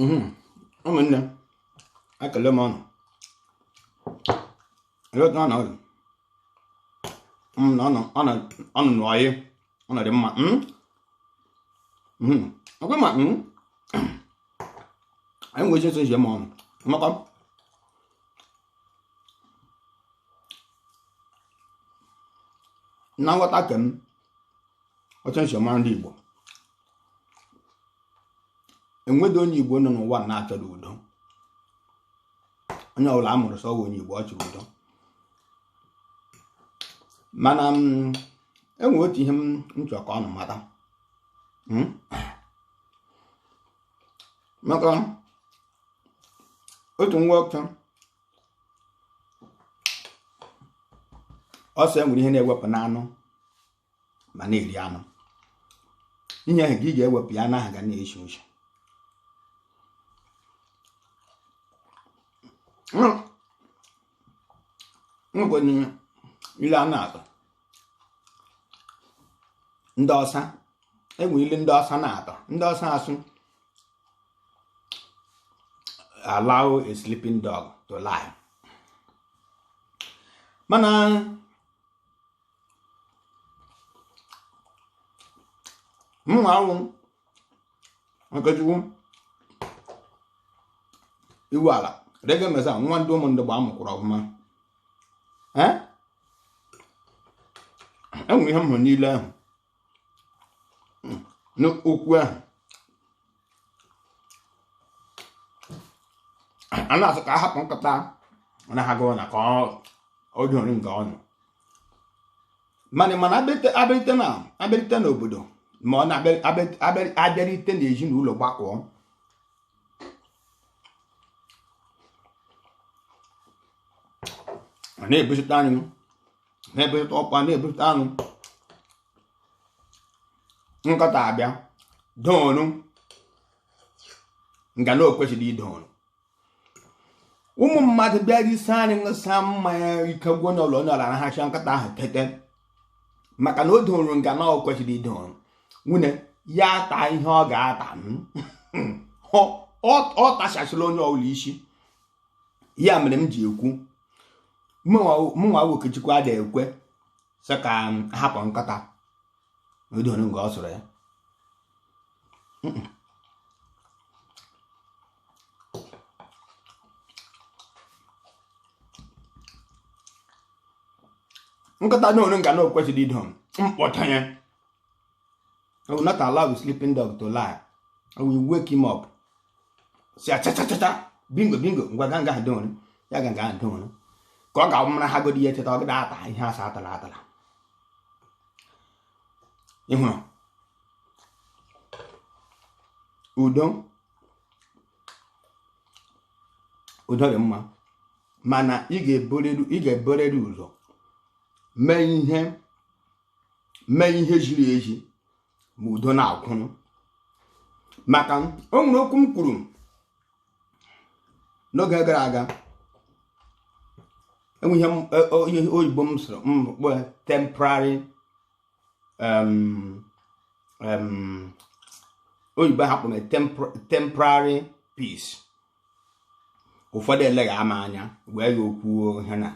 Mhm. ụmụnne ekele m ụnụ eleta ọ nọdụ Mm, na ọnụ ọnụ ọnụ nụ anyị ụnụ dị mma Mm? Mhm. ọkwa ma mm? anyị nwere ike ịsụ njem ụnụ makwa na nghọta ke m ọcha nsi ọma ndị Igbo enweghị onye Igbo nọ n'elu ụwa na-achọghị udo onye ọbụla a mụrụ sị ọ wụ onye Igbo ọ chọrọ udo mana mm, enwe otu ihe m chọrọ ka ụnụ mata hmm? maka otu nwa ọcha ọ sị enwere ihe a na-ewepụ n'anụ ma a na-eri anụ ihe ahụ ka ị ga-ewepụ ya anụ ahụ ga na-eshi ishi nkwenye ilu a na-atụ ndị ọsa enwere ilu ndị ọsa na-atụ ndị ọsa asị allow a sleeping dog to lie mana mụnwa wụ Okechukwu Iwuala rege mesa nwa ndị ụmụ ndị gba amụkwụrụ ọfụma enwere ihe m hụrụ n'ilu ahụ hmm, n'okwu ahụ a na-asị ka a hapụ nkịta na-arahụ ụra ka ọ dọrọ nga ọ nọ mana ma ọ na-abịarite na-abịarite n'obodo ma ọ na-abịarite n'ezinụlọ gbakọọ na-ebusite anyị na-ebute ọkpa na-ebute anụ nkịta abịa dọrọ nga na-ekwesịghị ịdọrọ ụmụ mmadụ bịa risa anụ ṅụsa mmanya ike gwuo n'ụlọ onye ọla nahacha nkịta ahụ tete maka na ọ dọrọ nga na-ekwesịghị ịdọrọ nwunye ya ata ihe ọ ga-ata ọ tachasịla onye ọbụla isi ya mere m ji ekwu mụnwa Okechukwu ada ekwe sị ka a hapụ nkịta ọ dọrọ nga ọ sọrọ ya nkịta dọrọ nga na-ekwesịghị ịdọ m kpọtee ya I will not allow the sleeping dog to lie. I will wake him up. Sị achachachacha bingo bingo ngwa ga nga ha dịnwere ya ga nga ha dịnwere ka ọ ga-awụ mara ha godi ya cheta ọ gada ata ihe asa atala atala ịhụrụ udo udo dị mma mana ị ga-eburiri ụzọ mee ihe mee ihe ziri ezi ma udo na-akwụrụ maka o nwere okwu m kwuru n'oge gara aga enweghị e, onye oyibo m sụrụ m kpọ temporary oyibo ha kpọrọ temporary peace ụfọdụ elega m anya wee ya okwu ihe na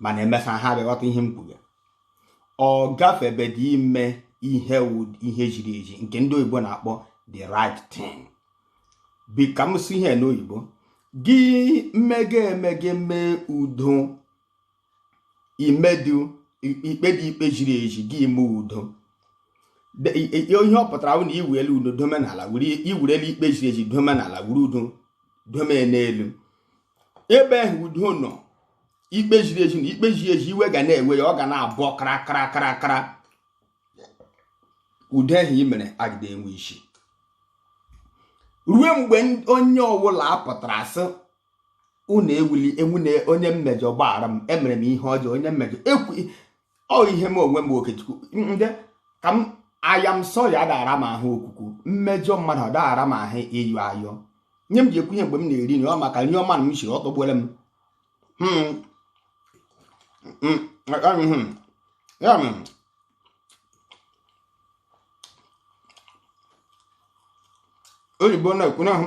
mana emesa ha bịa ghọta ihe m kwuru ọ gafebedị ime ihe ihe ziri ezi nke ndị oyibo na-akpọ the right thing bi ka m si ihe n'oyibo gị mege mege mee udo i medu i kpedu ikpe ziri ezi gị emee udo ihe ọ pụtara bụ na i were udo dome n'ala i wurula ikpe ziri ezi dome n'ala wuru udo dome n'elu ebe ahụ udo nọ ikpe ziri ezi na ikpe ziri ezi iwe ga na-ewe ya ọ ga na-abụ kara kara kara kara udo ahụ i mere agadị enwe isi ruo mgbe onye ọbụla apụtara sị unu ewuli enwu na onye m mejọrọ gbaghara m emere m ihe ọjọọ onye mmejọ ekwuo ihe m onwe m okechukwu ndị ka m I am sorry adaghị ara m ahụ okwukwu m mejọọ mmadụ ọ daghị ara m ahụ ịyọ ayọ ihe m ji ekwu ihe mgbe m na-eri nri ọ maka nri ọma na m siri ọ tọgbuola m Hmm. Hmm. Hmm. Ya mere, oyibo na-ekwu n'ahụ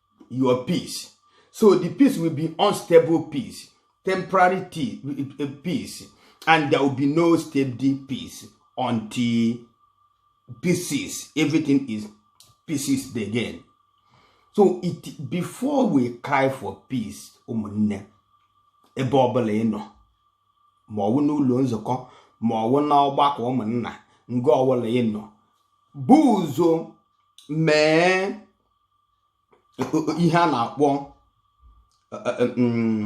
your peace so the peace will be unstable peace temporary eh, peace and there will be no steady peace until pieces everything is pieces again so it before we cry for peace ụmụnne ebe ọbụla ị nọ ma ọwụ n'ụlọ nzukọ ma ọwụ na ọgbakọ ụmụnna nga ọbụla ị nọ bu ụzọ mee ihe a na-akpọ e, e, e, mm,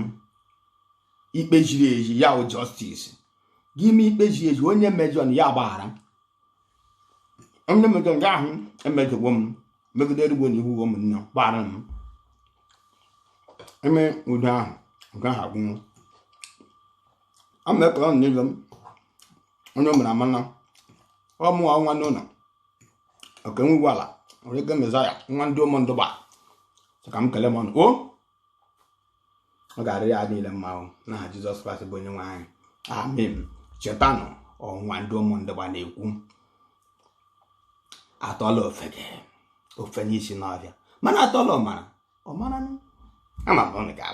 ikpe ziri ezi ya bụ justice gị ime ikpe ziri ezi onye mejọ na ya gbaghara onye mejọ nga ahụ emejọgbo m megide erugbo na iwu m nna gbaghara m eme udo ahụ nke ahụ agwụ ama ekpere ọnụ n'elu m onye o mere amana ọ mụwa nwa n'ụlọ okenwe ala nwere ike mezaya nwa ndị ụmụ ndụba sị ka m kele unu o ọ ga-arị anyị niile mma o n'aha Jizọs Kraịst bụ onye nwe anyị amen chetanụ ọ nwa ndị ụmụ ndụba na-ekwu atụọra ofeke o fenye isi n'ọhịa mana atụọra ọmara ọmara ama m